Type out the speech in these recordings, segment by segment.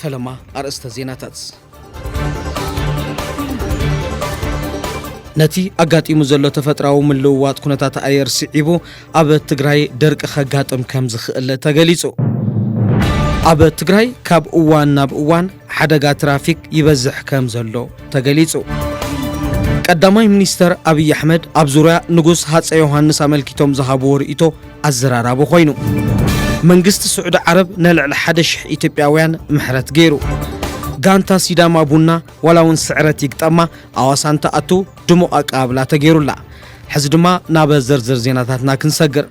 ፈለማ ኣርእስተ ዜናታት ነቲ ኣጋጢሙ ዘሎ ተፈጥራዊ ምልውዋጥ ኩነታት ኣየር ስዒቡ ኣብ ትግራይ ደርቂ ከጋጥም ከም ዝኽእል ተገሊጹ። ኣብ ትግራይ ካብ እዋን ናብ እዋን ሓደጋ ትራፊክ ይበዝሕ ከም ዘሎ ተገሊጹ። ቀዳማይ ሚኒስተር ኣብዪ ኣሕመድ ኣብ ዙርያ ንጉስ ሃፀ ዮሃንስ ኣመልኪቶም ዝሃብዎ ርእይቶ ኣዘራራቢ ኮይኑ። መንግስቲ ስዑዲ ዓረብ ንልዕሊ ሓደ ሽሕ ኢትዮጵያውያን ምሕረት ገይሩ። ጋንታ ሲዳማ ቡና ዋላ እውን ስዕረት ይግጠማ ኣዋሳ እንትኣቱ ድሙቕ ኣቀባብላ ተገይሩላ። ሕዚ ድማ ናብ ዝርዝር ዜናታትና ክንሰግር።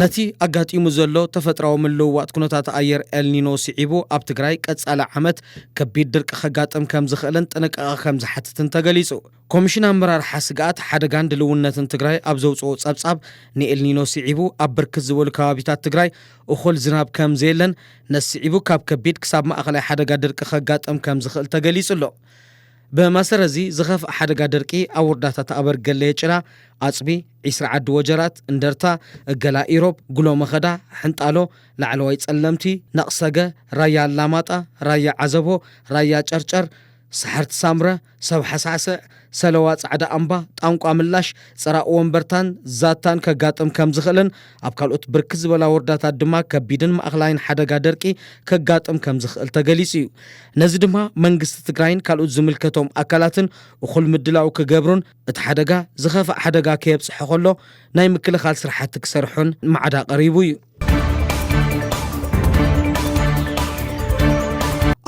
ነቲ ኣጋጢሙ ዘሎ ተፈጥራዊ ምልውዋጥ ኩነታት ኣየር ኤልኒኖ ስዒቡ ኣብ ትግራይ ቀጻሊ ዓመት ከቢድ ድርቂ ከጋጥም ከም ዝኽእልን ጥንቃቐ ከም ዝሓትትን ተገሊጹ። ኮሚሽን ኣመራርሓ ስግኣት ሓደጋን ድልውነትን ትግራይ ኣብ ዘውፅኦ ፀብፃብ ንኤልኒኖ ስዒቡ ኣብ ብርክት ዝበሉ ከባቢታት ትግራይ እኹል ዝናብ ከምዘየለን ነዚ ስዒቡ ካብ ከቢድ ክሳብ ማእኸላይ ሓደጋ ድርቂ ከጋጥም ከምዝኽእል ተገሊፁ ኣሎ። ብመሰረት እዚ ዝኸፍኣ ሓደጋ ድርቂ ኣብ ወረዳታት ኣበርገለየ ጭራ፣ ኣፅቢ፣ ዒስራ ዓዲ ወጀራት፣ እንደርታ፣ እገላ ኢሮብ፣ ጉሎ መኸዳ፣ ሕንጣሎ፣ ላዕለዋይ ፀለምቲ፣ ነቕሰገ፣ ራያ ኣላማጣ፣ ራያ ዓዘቦ፣ ራያ ጨርጨር፣ ሰሓርቲ ሳምረ፣ ሰብ ሓሳዕሰዕ፣ ሰለዋ ጻዕዳ ኣምባ፣ ጣንቋ ምላሽ፣ ጽራእ ወንበርታን ዛታን ከጋጥም ከም ዝኽእልን ኣብ ካልኦት ብርክት ዝበላ ወርዳታት ድማ ከቢድን ማእኽላይን ሓደጋ ደርቂ ከጋጥም ከም ዝኽእል ተገሊጹ እዩ። ነዚ ድማ መንግስቲ ትግራይን ካልኡት ዝምልከቶም ኣካላትን እኹል ምድላው ክገብሩን እቲ ሓደጋ ዝኸፍእ ሓደጋ ከየብጽሖ ከሎ ናይ ምክልኻል ስራሕቲ ክሰርሑን ማዕዳ ቀሪቡ እዩ።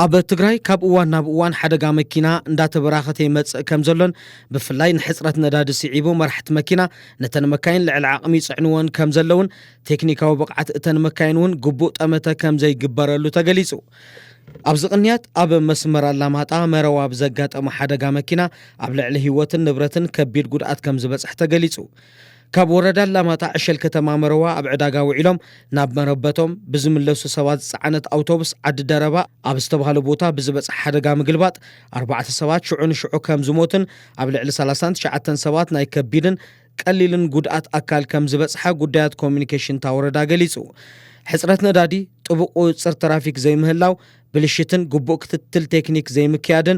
ኣብ ትግራይ ካብ እዋን ናብ እዋን ሓደጋ መኪና እንዳተበራኸተ ይመፅእ ከም ዘሎን ብፍላይ ንሕፅረት ነዳዲ ስዒቡ መራሕቲ መኪና ነተን መካይን ልዕሊ ዓቕሚ ይፅዕንዎን ከም ዘለውን ቴክኒካዊ ብቕዓት እተን መካይን እውን ግቡእ ጠመተ ከም ዘይግበረሉ ተገሊፁ። ኣብዚ ቅንያት ኣብ መስመር ኣላማጣ መረዋ ብዘጋጠመ ሓደጋ መኪና ኣብ ልዕሊ ህይወትን ንብረትን ከቢድ ጉድኣት ከም ዝበፅሕ ተገሊፁ። ካብ ወረዳ ኣላማጣ ዕሸል ከተማ መረዋ ኣብ ዕዳጋ ውዒሎም ናብ መረበቶም ብዝምለሱ ሰባት ዝፀዓነት ኣውቶቡስ ዓዲ ደረባ ኣብ ዝተብሃለ ቦታ ብዝበፅሐ ሓደጋ ምግልባጥ ኣርባዕተ ሰባት ሽዑ ንሽዑ ከም ዝሞቱን ኣብ ልዕሊ ሰላሳን ትሽዓተን ሰባት ናይ ከቢድን ቀሊልን ጉድኣት ኣካል ከም ዝበፅሐ ጉዳያት ኮሙኒኬሽን እታ ወረዳ ገሊፁ። ሕፅረት ነዳዲ፣ ጥቡቕ ቁፅፅር ትራፊክ ዘይምህላው፣ ብልሽትን ግቡእ ክትትል ቴክኒክ ዘይምክያድን፣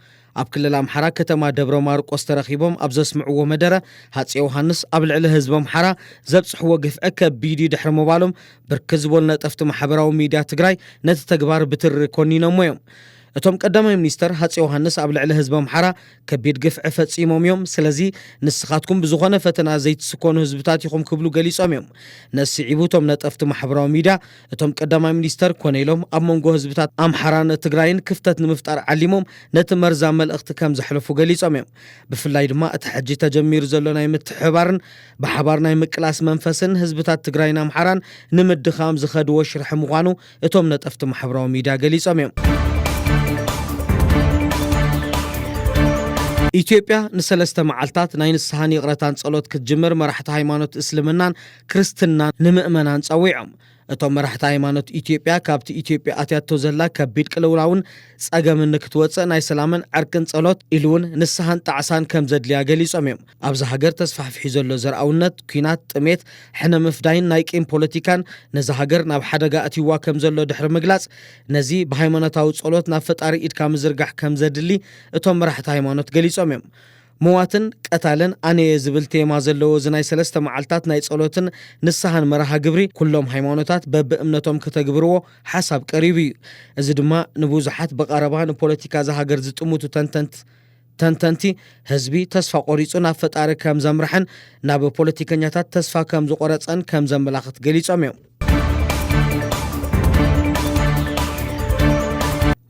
ኣብ ክልል ኣምሓራ ከተማ ደብረ ማርቆስ ተረኺቦም ኣብ ዘስምዕዎ መደረ ሃፄ ዮሃንስ ኣብ ልዕሊ ህዝቢ ኣምሓራ ዘብፅሕዎ ግፍዒ ከቢድ እዩ ድሕሪ ምባሎም ብርክት ዝበሉ ነጠፍቲ ማሕበራዊ ሚድያ ትግራይ ነቲ ተግባር ብትሪ ኮኒኖሞ እዮም። እቶም ቀዳማይ ሚኒስተር ሃፄ ዮሃንስ ኣብ ልዕሊ ህዝቢ ኣምሓራ ከቢድ ግፍዒ ፈፂሞም እዮም፣ ስለዚ ንስኻትኩም ብዝኾነ ፈተና ዘይትስኮኑ ህዝብታት ኢኹም ክብሉ ገሊፆም እዮም። ነዚ ስዒቡ እቶም ነጠፍቲ ማሕበራዊ ሚድያ እቶም ቀዳማይ ሚኒስተር ኮነ ኢሎም ኣብ መንጎ ህዝብታት ኣምሓራን ትግራይን ክፍተት ንምፍጣር ዓሊሞም ነቲ መርዛም መልእኽቲ ከም ዘሕለፉ ገሊጾም እዮም። ብፍላይ ድማ እቲ ሕጂ ተጀሚሩ ዘሎ ናይ ምትሕብባርን ብሓባር ናይ ምቅላስ መንፈስን ህዝብታት ትግራይን ኣምሓራን ንምድኻም ዝኸድዎ ሽርሒ ምዃኑ እቶም ነጠፍቲ ማሕበራዊ ሚድያ ገሊጾም እዮም። ኢትዮጵያ ንሰለስተ መዓልታት ናይ ንስሓን ይቕረታን ጸሎት ክትጅምር መራሕቲ ሃይማኖት እስልምናን ክርስትና ንምእመናን ጸዊዖም። እቶም መራሕቲ ሃይማኖት ኢትዮጵያ ካብቲ ኢትዮጵያ ኣትያቶ ዘላ ከቢድ ቅልውላውን ጸገምን ንክትወጽእ ናይ ሰላምን ዕርቅን ጸሎት ኢሉ እውን ንስሃን ጣዕሳን ከም ዘድልያ ገሊጾም እዮም። ኣብዛ ሃገር ተስፋሕፊሑ ዘሎ ዘርኣውነት፣ ኲናት፣ ጥሜት፣ ሕነ ምፍዳይን ናይ ቂም ፖለቲካን ነዛ ሃገር ናብ ሓደጋ ኣእትይዋ ከም ዘሎ ድሕሪ ምግላጽ ነዚ ብሃይማኖታዊ ጸሎት ናብ ፈጣሪ ኢድካ ምዝርጋሕ ከም ዘድሊ እቶም መራሕቲ ሃይማኖት ገሊጾም እዮም። ምዋትን ቀታልን ኣነየ ዝብል ቴማ ዘለዎ እዚ ናይ ሰለስተ መዓልታት ናይ ጸሎትን ንስሃን መርሃ ግብሪ ኩሎም ሃይማኖታት በቢ እምነቶም ከተግብርዎ ሓሳብ ቀሪቡ እዩ። እዚ ድማ ንብዙሓት ብቐረባ ንፖለቲካ እዛ ሃገር ዝጥምቱ ተንተንት ተንተንቲ ህዝቢ ተስፋ ቆሪጹ ናብ ፈጣሪ ከም ዘምርሐን ናብ ፖለቲከኛታት ተስፋ ከም ዝቖረጸን ከም ዘመላኽት ገሊጾም እዮም።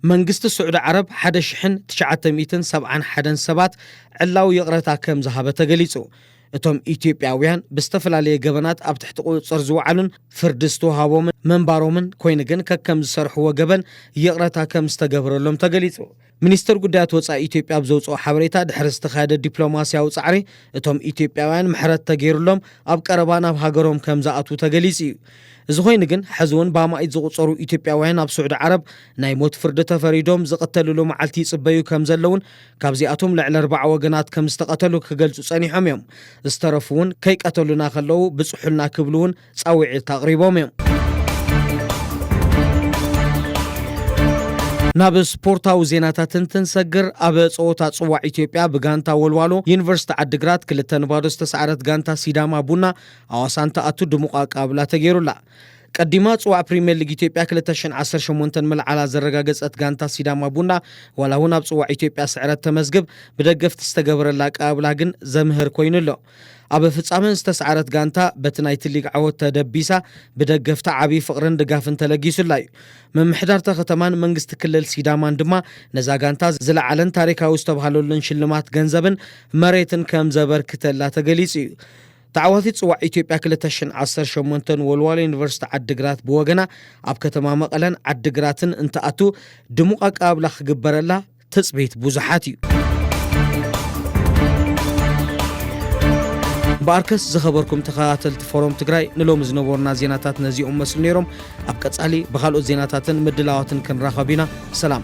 መንግስቲ ስዑዲ ዓረብ 1971 ሰባት ዕላዊ ይቕረታ ከም ዝሃበ ተገሊጹ እቶም ኢትዮጵያውያን ብዝተፈላለየ ገበናት ኣብ ትሕቲ ቁፅፅር ዝወዓሉን ፍርዲ ዝተውሃቦምን መንባሮምን ኮይኑ ግን ከከም ዝሰርሕዎ ገበን ይቕረታ ከም ዝተገብረሎም ተገሊጹ ሚኒስተር ጉዳያት ወጻኢ ኢትዮጵያ ኣብ ዘውጽኦ ሓበሬታ ድሕሪ ዝተኻየደ ዲፕሎማስያዊ ጻዕሪ እቶም ኢትዮጵያውያን ምሕረት ተገይሩሎም ኣብ ቀረባ ናብ ሃገሮም ከም ዝኣትዉ ተገሊጹ እዩ። እዚ ኮይኑ ግን ሕዚ እውን ብኣማኢት ዝቑጸሩ ኢትዮጵያውያን ኣብ ስዑዲ ዓረብ ናይ ሞት ፍርዲ ተፈሪዶም ዝቕተልሉ መዓልቲ ይጽበዩ ከም ዘለውን ካብዚኣቶም ልዕሊ ኣርባዓ ወገናት ከም ዝተቐተሉ ክገልጹ ጸኒሖም እዮም። ዝተረፉ እውን ከይቀተሉና ከለዉ ብጽሑልና ክብሉ እውን ጻውዒት ኣቕሪቦም እዮም። ናብ ስፖርታዊ ዜናታት እንትንሰግር ኣብ ጸወታ ጽዋዕ ኢትዮጵያ ብጋንታ ወልዋሎ ዩኒቨርሲቲ ዓዲግራት ክልተ ንባዶ ዝተሰዓረት ጋንታ ሲዳማ ቡና ኣዋሳ እንትኣቱ ድሙቕ ኣቀባብላ ተገይሩላ። ቀዲማ ጽዋዕ ፕሪምየር ሊግ ኢትዮጵያ 2018 ምልዓላ ዘረጋገጸት ጋንታ ሲዳማ ቡና ዋላ እውን ኣብ ጽዋዕ ኢትዮጵያ ስዕረት ተመዝግብ ብደገፍቲ ዝተገበረላ ኣቀባብላ ግን ዘምህር ኮይኑ ኣሎ። ኣብ ፍጻመ ዝተስዓረት ጋንታ በቲ ናይቲ ሊግ ዓወት ተደቢሳ ብደገፍታ ዓብዪ ፍቕርን ድጋፍን ተለጊሱላ እዩ። ምምሕዳር'ታ ከተማን መንግስቲ ክልል ሲዳማን ድማ ነዛ ጋንታ ዝለዓለን ታሪካዊ ዝተብሃለሉን ሽልማት ገንዘብን መሬትን ከም ዘበርክተላ ተገሊጹ እዩ። ተዓዋቲት ጽዋዕ ኢትዮጵያ ክልተ ሽሕን ዓሰርተ ሸሞንተን ወልዋሎ ዩኒቨርሲቲ ዓዲግራት ብወገና ኣብ ከተማ መቐለን ዓዲግራትን እንትኣቱ ድሙቕ ኣቀባብላ ክግበረላ ትጽቢት ብዙሓት እዩ። እምበኣርከስ ዝኸበርኩም ተኸታተልቲ ፎሮም ትግራይ ንሎሚ ዝነበሩና ዜናታት ነዚኦም መስሉ ነይሮም። ኣብ ቀጻሊ ብካልኦት ዜናታትን ምድላዋትን ክንራኸብ ኢና። ሰላም።